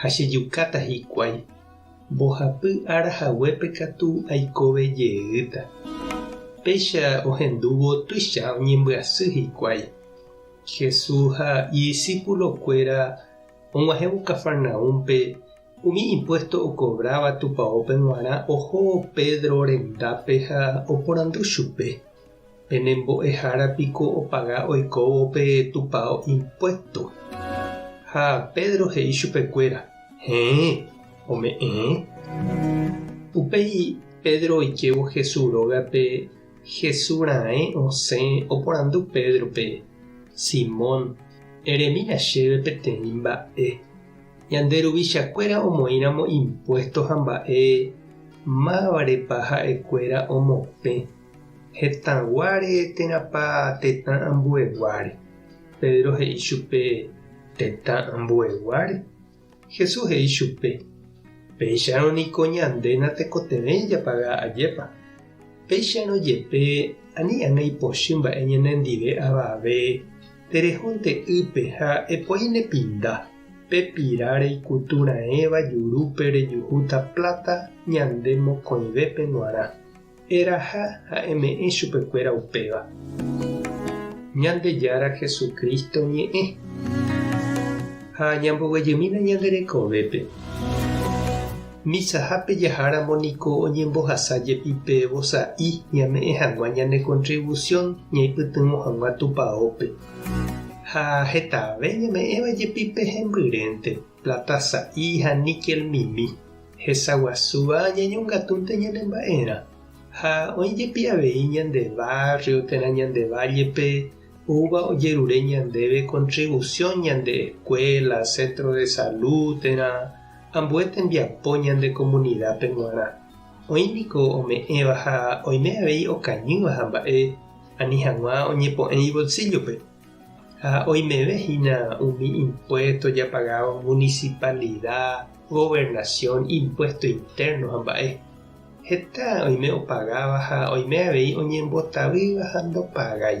ha chejukáta hikuái. Mbohapy ára haguépe katu aikove jeýta. Péicha ohendúvo tuicha oñembyasy hikuái. Jesús ha idisípulokuéra og̃uahẽvo Cafarnaúmpe, umi impuésto okovráva tupaópe g̃uarã oho Pedro rendápe ha oporandu chupe. Pene mbo'ehára piko opaga oikóvo pe tupao impuesto. Ha Pedro he'i chupekuéra, Heẽ, ome'ẽ. Upéi Pedro oikévo Hesu rógape, Hesu raẽ osẽ oporandu Pedrope, Simón, eremína chéve peteĩ mba'e. Ñande ruvichakuéra omoĩramo impuesto ha mba'e, mávarepa ha'ekuéra omopẽ. Hetãguáre térãpa tetã ambueguáre? Pedro he'i chupe, Tetã ambueguáre. Jesús he'i chupe, Péicharõ niko ñande natekotevẽi japaga ajépa. Péicharõ jepe, ani ág̃a ipochy mba'e ñanendive avave, terehónte ýpe ha epoi nepinda, pe pira reikutu raẽva jurúpe rejuhúta pláta ñande mokõivépe g̃uarã. Eraha ha eme'ẽ chupekuéra upéva. Ñandejára Jesucristo ñe'ẽ. Ha ñamboguejymína ñande rekovépe. Misahápe jaháramo niko oñembohasa jepi pe vosa'i ñame'ẽ hag̃ua ñane contribución ñaipytyvõ hag̃ua Tupaópe. Ha hetave ñame'ẽva jepi pe hembyrénte, plata sa'i ha níquel mimi. Hesaguasúva ñañongatúnte ñane mba'erã, ha oĩ jepi avei ñande barrio térã ñande valle-pe oúva ojerure ñandéve contribución ñande escuela, centro de salud térã ambue tembiapo ñande comunidad-pe g̃uarã. Oĩ niko ome'ẽva ha oime avei okañýva ha mba'e ani hag̃ua oñepo'ẽ ibolsillo-pe. Ha oimeve hína umi impuésto japagávo munisipalida, governasión, impuésto intérno ha mba'e. Heta oime opagáva ha oime avei oñembotavýva ha ndopagái.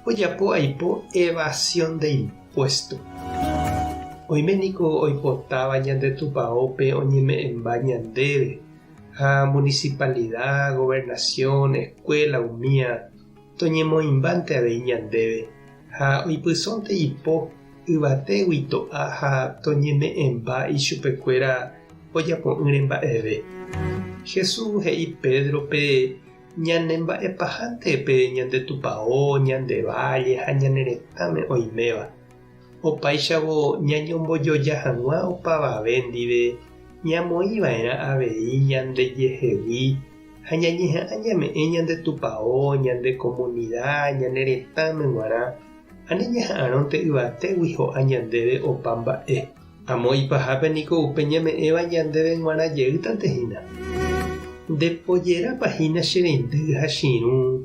Ojapo aipo evasión de impuésto. Oime niko oipotáva ñande Tupaópe oñeme'ẽmba ñandéve ha munisipalida, governasión, eskuéla umía. Toñemoĩmbánte avei ñandéve ha oipysónte ipo yvatégui to'a ha toñeme'ẽmba ichupekuéra ojapo'ỹre mba'eve. Jesús he'i Pédrope ñanemba'epahánte pe ñande tupao, ñande válle ha ñane retãme oiméva. Opáichavo ñañombojoja hag̃ua opavave ndive, ñamoĩ va'erã avei ñandejehegui ha ñañeha'ã ñame'ẽ ñande tupao, ñande komunida, ñane retãme g̃uarã, ani ñaha'arõnte yvatégui ho'a ñandéve opa mba'e. Amo ipahápe niko upe ñame'ẽva ñandéve g̃uarã jeýtante hína. Nde pojerápa hína che reindy ha che irũ.